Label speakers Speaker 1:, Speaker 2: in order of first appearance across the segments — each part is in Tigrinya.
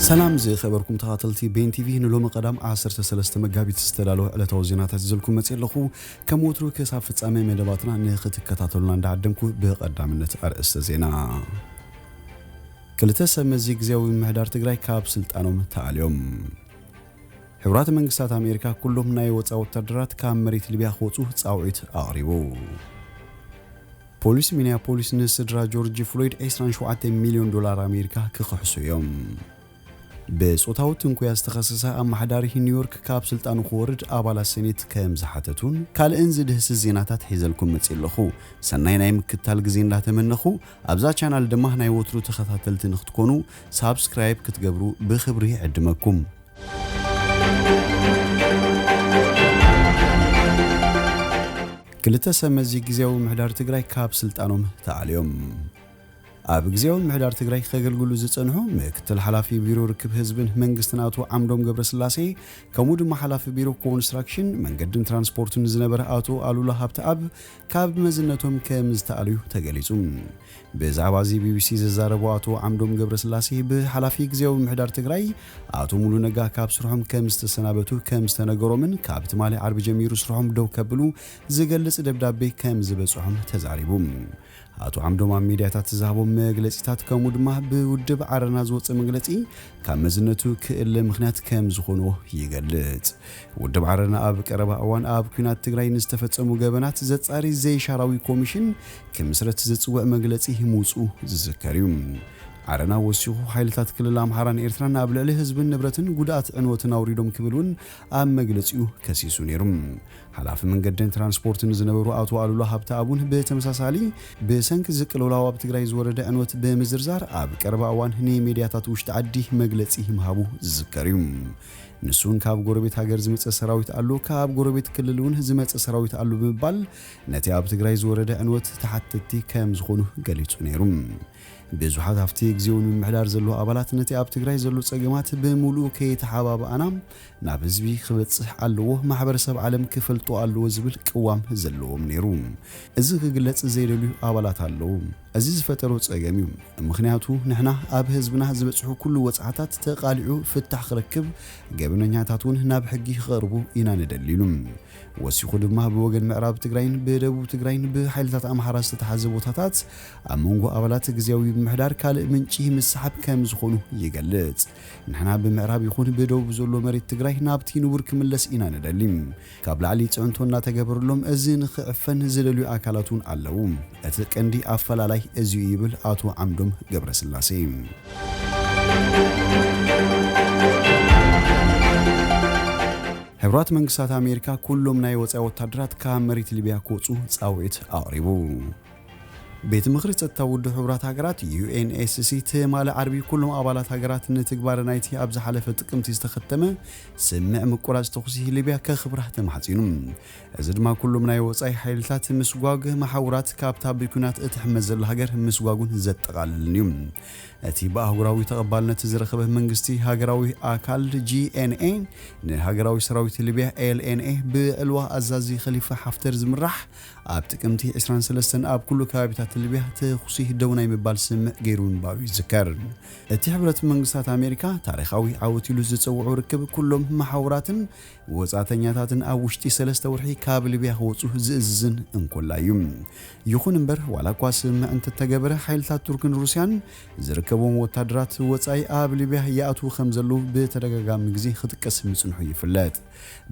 Speaker 1: ሰላም ዝኸበርኩም ተኻተልቲ ቤን ቲቪ ንሎሚ ቀዳም 13 መጋቢት ዝተዳለወ ዕለታዊ ዜናታት ይዘልኩም መፅእ ኣለኹ ከም ወትሩ ክሳብ ፍጻሜ መደባትና ንኽትከታተሉና እንዳዓደምኩ ብቐዳምነት ኣርእስተ ዜና ክልተ ሰብ መዚ ግዜያዊ ምምሕዳር ትግራይ ካብ ስልጣኖም ተኣልዮም ሕቡራት መንግስታት ኣሜሪካ ኩሎም ናይ ወጻኢ ወታደራት ካብ መሬት ሊብያ ክወጹ ጻውዒት ኣቕሪቡ። ፖሊስ ሚኒያፖሊስ ንስድራ ጆርጅ ፍሎይድ 27 ሚልዮን ዶላር ኣሜሪካ ክኽሕሱ እዮም። ብጾታዊ ትንኮያ ዝተኸሰሰ ኣመሓዳሪ ኒውዮርክ ካብ ስልጣኑ ክወርድ ኣባላት ሴኔት ከም ዝሓተቱን ካልእን ዝድህስስ ዜናታት ሒዘልኩም መጺእ ኣለኹ። ሰናይ ናይ ምክትታል ግዜ እንዳተመነኹ ኣብዛ ቻናል ድማ ናይ ወትሩ ተኸታተልቲ ንክትኮኑ ሳብስክራይብ ክትገብሩ ብክብሪ ይዕድመኩም። ክልተ ሰብ መዚ ግዜያዊ ምሕዳር ትግራይ ካብ ስልጣኖም ተኣልዮም። ኣብ ግዜያዊ ምሕዳር ትግራይ ከገልግሉ ዝጸንሑ ምክትል ሓላፊ ቢሮ ርክብ ህዝብን መንግስትን ኣቶ ዓምዶም ገብረስላሴ ከምኡ ድማ ሓላፊ ቢሮ ኮንስትራክሽን መንገድን ትራንስፖርትን ዝነበረ ኣቶ ኣሉላ ሃብተኣብ ካብ መዝነቶም ከም ዝተኣልዩ ተገሊጹ። ብዛዕባ እዚ ቢቢሲ ዘዛረቦ ኣቶ ዓምዶም ገብረስላሴ ብሓላፊ ግዝያዊ ምምሕዳር ትግራይ ኣቶ ሙሉ ነጋ ካብ ስርሖም ከም ዝተሰናበቱ ከም ዝተነገሮምን ካብ ትማሊ ዓርቢ ጀሚሩ ስርሖም ደው ከብሉ ዝገልጽ ደብዳቤ ከም ዝበጽሖም ተዛሪቡ። ኣቶ ዓምዶም ኣብ ሚድያታት ዝሃቦም መግለጺታት ከምኡ ድማ ብውድብ ዓረና ዝወጸ መግለጺ ካብ መዝነቱ ክእለ ምኽንያት ከም ዝኾኖ ይገልጽ። ውድብ ዓረና ኣብ ቀረባ እዋን ኣብ ኲናት ትግራይ ንዝተፈጸሙ ገበናት ዘጻሪ ዘይሻራዊ ኮሚሽን ክምስረት ዝጽውዕ መግለጺ ምውጽኡ ዝዝከር እዩ። ዓረና ወሲኹ ሓይልታት ክልል ኣምሓራን ኤርትራን ኣብ ልዕሊ ህዝብን ንብረትን ጉድኣት ዕንወትን ኣውሪዶም ክብል እውን ኣብ መግለጺኡ ከሲሱ ነይሩ። ሓላፊ መንገድን ትራንስፖርትን ዝነበሩ ኣቶ ኣሉላ ሃብተኣቡን ብተመሳሳሊ ብሰንኪ እዚ ቅልውላው ኣብ ትግራይ ዝወረደ ዕንወት ብምዝርዛር ኣብ ቀረባ እዋን ንሚድያታት ውሽጢ ዓዲ መግለፂ ምሃቡ ዝዝከር እዩ። ንሱ እውን ካብ ጎረቤት ሃገር ዝመፀ ሰራዊት ኣሎ፣ ካብ ጎረቤት ክልል እውን ዝመፀ ሰራዊት ኣሎ ብምባል ነቲ ኣብ ትግራይ ዝወረደ ዕንወት ተሓተትቲ ከም ዝኾኑ ገሊፁ ነይሩ። ብዙሓት ኣብቲ ግዜዊ ንምምሕዳር ዘለዉ ኣባላት ነቲ ኣብ ትግራይ ዘሎ ፀገማት ብምሉኡ ከይተሓባበኣና ናብ ህዝቢ ክበጽሕ ኣለዎ፣ ማሕበረሰብ ዓለም ክፈልጦ ኣለዎ ዝብል ቅዋም ዘለዎም ነይሩ። እዚ ክግለጽ ዘይደልዩ ኣባላት ኣለዉ። እዚ ዝፈጠሮ ጸገም እዩ። ምኽንያቱ ንሕና ኣብ ህዝብና ዝበጽሑ ኩሉ ወጽዓታት ተቓሊዑ ፍታሕ ክረክብ፣ ገበነኛታት እውን ናብ ሕጊ ክቐርቡ ኢና ንደሊ ኢሉ። ወሲኹ ድማ ብወገን ምዕራብ ትግራይን ብደቡብ ትግራይን ብሓይልታት ኣምሓራ ዝተታሕዘ ቦታታት ኣብ መንጎ ኣባላት ግዝያዊ ምምሕዳር ካልእ ምንጪ ምስሓብ ከም ዝኾኑ ይገልጽ። ንሕና ብምዕራብ ይኹን ብደቡብ ዘሎ መሬት ትግራይ ናብቲ ንቡር ክምለስ ኢና ንደሊ። ካብ ላዕሊ ፅዕንቶ እናተገበረሎም እዚ ንኽዕፈን ዝደልዩ ኣካላት እውን ኣለዉ። እቲ ቀንዲ ኣፈላላይ እዚ እዩ ይብል ኣቶ ዓምዶም ገብረስላሴ። ሕቡራት መንግስታት ኣሜሪካ ኩሎም ናይ ወፃኢ ወታደራት ካብ መሬት ሊብያ ክወፁ ፃውዒት ኣቕሪቡ። ቤት ምኽሪ ጸጥታ ውድብ ሕቡራት ሃገራት፣ UNSC፣ ትማሊ ዓርቢ ኩሎም ኣባላት ሃገራት ንትግባረ ናይቲ ኣብ ዝሓለፈ ጥቅምቲ ዝተኸተመ ስምምዕ ምቁራጽ ተኹሲ ሊብያ ከኽብራ ተማሕጺኑ። እዚ ድማ ኩሎም ናይ ወጻኢ ሓይልታት ምስጓግ፣ መሓውራት ካብታ ብኲናት እትሕመስ ዘላ ሃገር ምስጓጉን ዘጠቓልልን እዩ። እቲ ብኣህጉራዊ ተቐባልነት ዝረኸበ መንግስቲ ሃገራዊ ኣካል፣ GNA፣ ንሃገራዊ ሰራዊት ሊብያ፣ LNA፣ ብዕልዋ ኣዛዚ ኸሊፋ ሓፍተር ዝምራሕ ኣብ ጥቅምቲ ዕስራን ሰለስተን ኣብ ኩሉ ከባቢታት ሊብያ ተኹሲ ደው ናይ ምባል ስምምዕ ገይሩ ምንባሩ ይዝከር። እቲ ሕብረት መንግስታት ኣሜሪካ ታሪኻዊ ዓወት ኢሉ ዝጸውዖ ርክብ ኩሎም መሓውራትን ወጻእተኛታትን ኣብ ውሽጢ ሰለስተ ወርሒ ካብ ሊብያ ክወጹ ዝእዝዝን እንኮላይ እዩ። ይኹን እምበር ዋላ እኳ ስምምዕ እንተተገበረ ሓይልታት ቱርክን ሩስያን ዝርከብዎም ወታደራት ወጻኢ ኣብ ሊብያ ይኣትዉ ከምዘለዉ ብተደጋጋሚ ግዜ ክጥቀስ ምጽንሑ ይፍለጥ።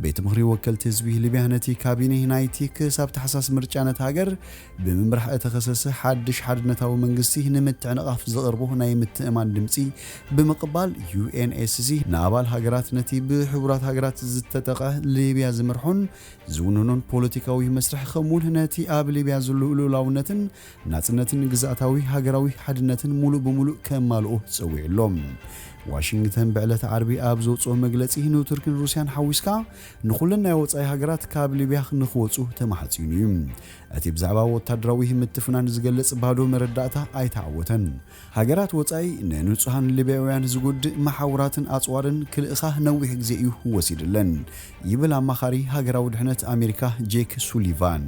Speaker 1: ቤት ምኽሪ ወከልቲ ህዝቢ ሊብያ ነቲ ካቢኔ ናይቲ ክሳብ ታሕሳስ ምርጫ ነታ ሃገር ብምምራሕ እተኸሰሰ ሓድሽ ሓድነታዊ መንግስቲ ንምትዕንቓፍ ዘቕርቦ ናይ ምትእምማን ድምጺ ብምቕባል UNSC ንኣባል ሃገራት ነቲ ብሕቡራት ሃገራት ዝተጠቕዐ ሊብያ ዝመርሖን ዝውንኖን ፖለቲካዊ መስርሕ ከምኡውን ነቲ ኣብ ሊብያ ዘሎ ልኡላውነትን ናጽነትን ግዝኣታዊ ሃገራዊ ሓድነትን ሙሉእ ብሙሉእ ከማልኦ ጸዊዑ ኣሎ። ዋሽንግተን ብዕለተ ዓርቢ ኣብ ዘውጽኦ መግለጺ ንቱርክን ሩስያን ሓዊስካ ንኹለን ናይ ወጻኢ ሃገራት ካብ ሊብያ ንኽወጹ ተማሕጺኑ እዩ። እቲ ብዛዕባ ወታደራዊ ምትፍናን ዝገልጽ ባዶ መረዳእታ ኣይተዓወተን። ሃገራት ወጻኢ ንንጹሃን ሊብያውያን ዝጉድእ መሓውራትን ኣጽዋርን ክልእኻ ነዊሕ ግዜ እዩ ወሲድለን ይብል ኣማኻሪ ሃገራዊ ድሕነት ኣሜሪካ ጄክ ሱሊቫን።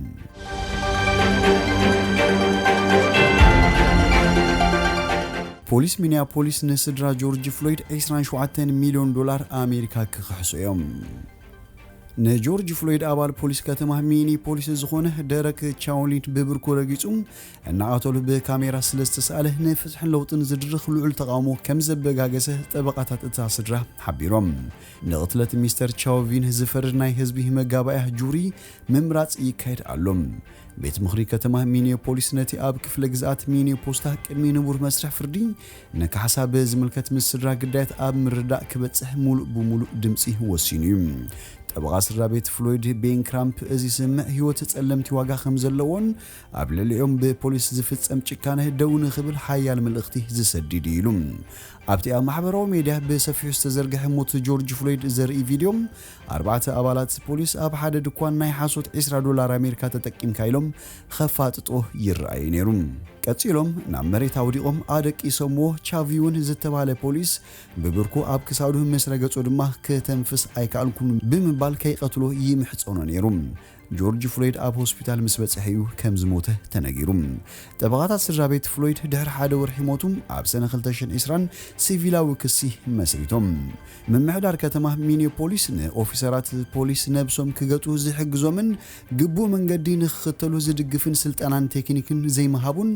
Speaker 1: ፖሊስ ሚኒያፖሊስ ንስድራ ጆርጅ ፍሎይድ ዒስራን ሸውዓተን ሚልዮን ዶላር ኣሜሪካ ክኽሕሱ እዮም። ንጆርጅ ፍሎይድ ኣባል ፖሊስ ከተማ ሚኒፖሊስ ዝኾነ ደረክ ቻውሊን ብብርኩ ረጊጹ እናቐተሉ ብካሜራ ስለ ዝተሳእለ ንፍትሕን ለውጥን ዝድርኽ ልዑል ተቓውሞ ከም ዘበጋገሰ ጠበቓታት እታ ስድራ ሓቢሮም። ንቕትለት ሚስተር ቻውቪን ዝፈርድ ናይ ህዝቢ መጋባእያ ጁሪ ምምራጽ ይካየድ ኣሎ። ቤት ምኽሪ ከተማ ሚኒዮፖሊስ ነቲ ኣብ ክፍለ ግዝኣት ሚኒዮፖስታ ቅድሚ ንቡር መስርሕ ፍርዲ ንካሕሳ ብዝምልከት ምስ ስድራ ግዳያት ኣብ ምርዳእ ክበጽሕ ሙሉእ ብሙሉእ ድምጺ ወሲኑ እዩ። ጠበቓ ስድራ ቤት ፍሎይድ ቤን ክራምፕ እዚ ስምምዕ ህይወት ጸለምቲ ዋጋ ከም ዘለዎን ኣብ ልዕሊኦም ብፖሊስ ዝፍጸም ጭካነ ደው ንኽብል ሓያል መልእኽቲ ዝሰድድ እዩ ኢሉ። ኣብቲ ኣብ ማሕበራዊ ሜድያ ብሰፊሑ ዝተዘርግሐ ሞት ጆርጅ ፍሎይድ ዘርኢ ቪድዮ፣ ኣርባዕተ ኣባላት ፖሊስ ኣብ ሓደ ድኳን ናይ ሓሶት ዒስራ ዶላር ኣሜሪካ ተጠቂምካ ኢሎም ኸፋጥጥዎ ይረኣዩ ነይሩ። ቀጺሎም ናብ መሬት ኣውዲቖም ኣደቂሶምዎ፣ ቻቪውን ዝተባህለ ፖሊስ ብብርኩ ኣብ ክሳዱ ምስ ረገጾ ድማ፣ ክተንፍስ ኣይከኣልኩን ብምባል ከይቀትሎ ይምሕጸኖ ነይሩ። ጆርጅ ፍሎይድ ኣብ ሆስፒታል ምስ በጽሐ እዩ ከም ዝሞተ ተነጊሩ። ጠበቓታት ስድራቤት ፍሎይድ ድሕሪ ሓደ ወርሒ ሞቱ ኣብ ሰነ 2020 ሲቪላዊ ክሲ መስሪቶም። ምምሕዳር ከተማ ሚኒዮፖሊስ ንኦፊሰራት ፖሊስ ነብሶም ክገጡ ዝሕግዞምን ግቡእ መንገዲ ንክኽተሉ ዝድግፍን ስልጠናን ቴክኒክን ዘይምሃቡን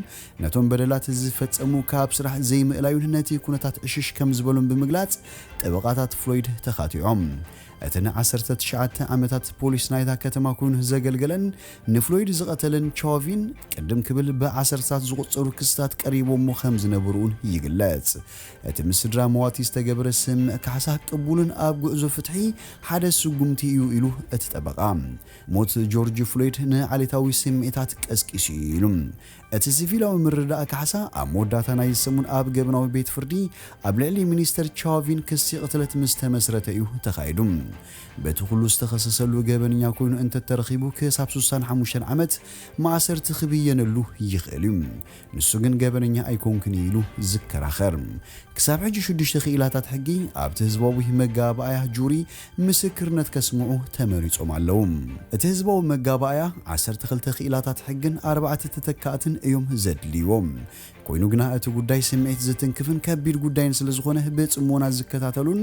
Speaker 1: ነቶም በደላት ዝፈጸሙ ካብ ስራሕ ዘይምእላዩን ነቲ ኩነታት ዕሽሽ ከም ዝበሉን ብምግላጽ ጠበቓታት ፍሎይድ ተኻቲዖም። እቲ ንዓሰርተ ትሽዓተ ዓመታት ፖሊስ ናይታ ከተማ ኮይኑ ዘገልገለን ንፍሎይድ ዝቐተለን ቻቪን ቅድም ክብል ብዓሰርታት ዝቑጸሩ ክስታት ቀሪቦሞ ከም ዝነበሩ'ውን ይግለጽ። እቲ ምስ ስድራ መዋቲ ዝተገብረ ስምምዕ ካሕሳ ቅቡልን ኣብ ጉዕዞ ፍትሒ ሓደ ስጉምቲ እዩ ኢሉ እቲ ጠበቓ። ሞት ጆርጅ ፍሎይድ ንዓሌታዊ ስምዒታት ቀስቂሱ'ዩ ኢሉ። እቲ ሲቪላዊ ምርዳእ ካሕሳ ኣብ መወዳእታ ናይዚ ሰሙን ኣብ ገበናዊ ቤት ፍርዲ ኣብ ልዕሊ ሚኒስተር ቻቪን ክሲ ቅትለት ምስ ተመስረተ እዩ ተኻይዱ። በቲ ኩሉ ዝተኸሰሰሉ ገበነኛ ኮይኑ እንተተረኺቡ ክሳብ ሱሳን ሓሙሽተን ዓመት ማእሰርቲ ክብየነሉ ይኽእል እዩ። ንሱ ግን ገበነኛ ኣይኮንኩን እዩ ኢሉ ዝከራኸር። ክሳብ ሕጂ ሽዱሽተ ክኢላታት ሕጊ ኣብቲ ህዝባዊ መጋባእያ ጁሪ ምስክርነት ከስምዑ ተመሪጾም ኣለዉ። እቲ ህዝባዊ መጋባእያ ዓሰርተ ክልተ ክኢላታት ሕግን ኣርባዕተ ተተካእትን እዮም ዘድልይዎ። ኮይኑ ግና እቲ ጉዳይ ስምዒት ዝትንክፍን ከቢድ ጉዳይን ስለዝኾነ ብጽሞና ዝከታተሉን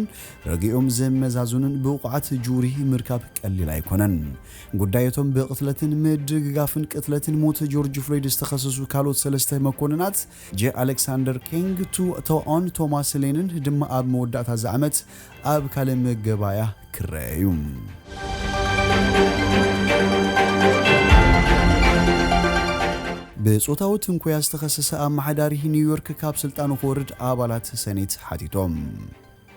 Speaker 1: ርግኦም ዘመዛዝኑን ብቑዓት ጁሪ ምርካብ ቀሊል ኣይኮነን። ጉዳይ እቶም ብቕትለትን ምድግጋፍን ቅትለትን ሞት ጆርጅ ፍሎይድ ዝተኸሰሱ ካልኦት ሰለስተ መኮንናት ጄ ኣሌክሳንደር ኬንግ፣ ቱ ቶኦን ቶማስ ሌንን ድማ ኣብ መወዳእታ እዚ ዓመት ኣብ ካልእ መገባእያ ክረኣ እዩ። ብጾታዊ ትንኮያ ዝተኸሰሰ ኣመሓዳሪ ኒውዮርክ ካብ ስልጣኑ ክወርድ ኣባላት ሰኔት ሓቲቶም።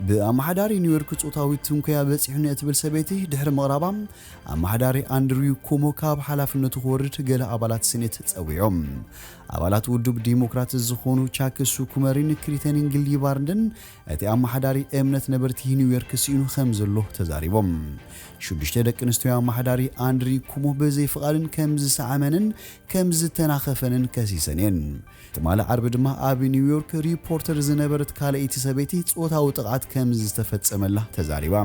Speaker 1: ብኣመሓዳሪ ኒውዮርክ ጾታዊ ትንኮያ በጺሑኒ እትብል ሰበይቲ ድሕሪ ምቕራባ ኣመሓዳሪ ኣንድሪው ኩሞ ካብ ሓላፍነቱ ክወርድ ገለ ኣባላት ሰኔት ጸዊዖም። ኣባላት ውዱብ ዲሞክራት ዝኾኑ ቻክ ሱኩመሪን ክሪተኒንግሊ ባርንድን እቲ ኣመሓዳሪ እምነት ነበርቲ ኒውዮርክ ስኢኑ ከምዘሎ ተዛሪቦም። ሽዱሽተ ደቂ ኣንስትዮ ኣመሓዳሪ ኣንድሪ ኩሞ ብዘይ ፍቓድን ከምዝሰዓመንን ከምዝተናኸፈንን ከሲሰን እየን። ትማሊ ዓርቢ ድማ ኣብ ኒውዮርክ ሪፖርተር ዝነበረት ካልኣይቲ ሰበይቲ ጾታዊ ጥቕዓት ከምዝተፈጸመላ ተዛሪባ።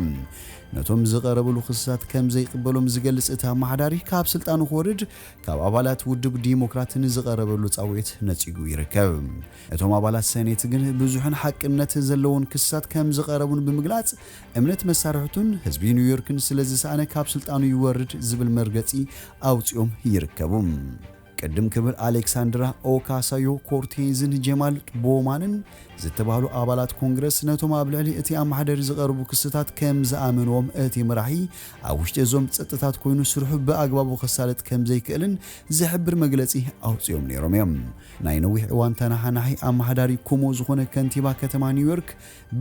Speaker 1: ነቶም ዝቐረብሉ ክስታት ከምዘይቕበሎም ዝገልጽ እቲ ኣመሓዳሪ ካብ ስልጣኑ ክወርድ ካብ ኣባላት ውድብ ዲሞክራት ንዝቐረበሉ ጻውዒት ነጺጉ ይርከብ። እቶም ኣባላት ሰኔት ግን ብዙሕን ሓቅነት ዘለዎን ክስታት ከም ዝቐረቡን ብምግላጽ፣ እምነት መሳርሕቱን ህዝቢ ኒውዮርክን ስለ ዝሰኣነ ካብ ስልጣኑ ይወርድ ዝብል መርገጺ ኣውጺኦም ይርከቡ። ቅድም ክብል ኣሌክሳንድራ ኦካሳዮ ኮርቴዝን ጀማል ቦውማንን ዝተባህሉ ኣባላት ኮንግረስ ነቶም ኣብ ልዕሊ እቲ ኣመሓደሪ ዝቐርቡ ክስታት ከም ዝኣመንዎም እቲ መራሒ ኣብ ውሽጢ እዞም ጸጥታት ኮይኑ ስርሑ ብኣግባቡ ከሳልጥ ከም ዘይክእልን ዝሕብር መግለጺ ኣውጺኦም ነይሮም እዮም። ናይ ነዊሕ እዋን ተነሓናሒ ኣመሓዳሪ ኮሞ ዝኾነ ከንቲባ ከተማ ኒውዮርክ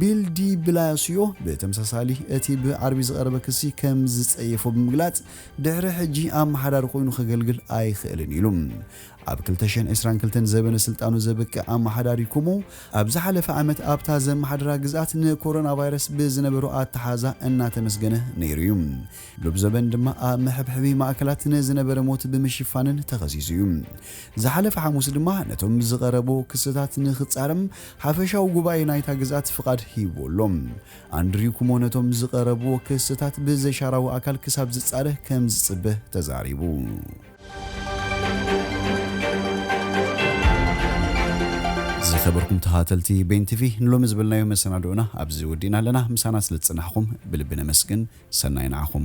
Speaker 1: ቢል ዲ ብላሲዮ ብተመሳሳሊ እቲ ብዓርቢ ዝቐረበ ክሲ ከም ዝጸየፎ ብምግላጽ ድሕሪ ሕጂ ኣመሓዳሪ ኮይኑ ከገልግል ኣይኽእልን ኢሉ። ኣብ 2022 ዘበነ ስልጣኑ ዘብቅዕ ኣመሓዳሪ ኮሞ ኣብ ዝሓለፈ ዓመት ኣብታ ዘመሓድራ ግዝኣት ንኮሮናቫይረስ ብዝነበሮ ኣተሓሕዛ እናተመስገነ ነይሩ እዩ። ሎብ ዘበን ድማ ኣብ መሐብሐቢ ማእከላት ንዝነበረ ሞት ብምሽፋንን ተኸሲሱ እዩ። ዝሓለፈ ሓሙስ ድማ ነቶም ዝቐረቡ ክስታት ንክጻረም ሓፈሻዊ ጉባኤ ናይታ ግዝኣት ፍቓድ ሂብዎ ኣሎ። ኣንድሪው ኩሞ ነቶም ዝቐረብዎ ክስታት ብዘሻራዊ ኣካል ክሳብ ዝጻረ ከምዝጽበ ተዛሪቡ። ዝኸበርኩም ተኸታተልቲ ቤን ቲቪ ንሎሚ ዝበልናዮ መሰናድኦና ኣብዚ ወዲእና ኣለና። ምሳና ስለ ዝጸናሕኹም ብልቢ ነመስግን። ሰናይ ንዓኹም።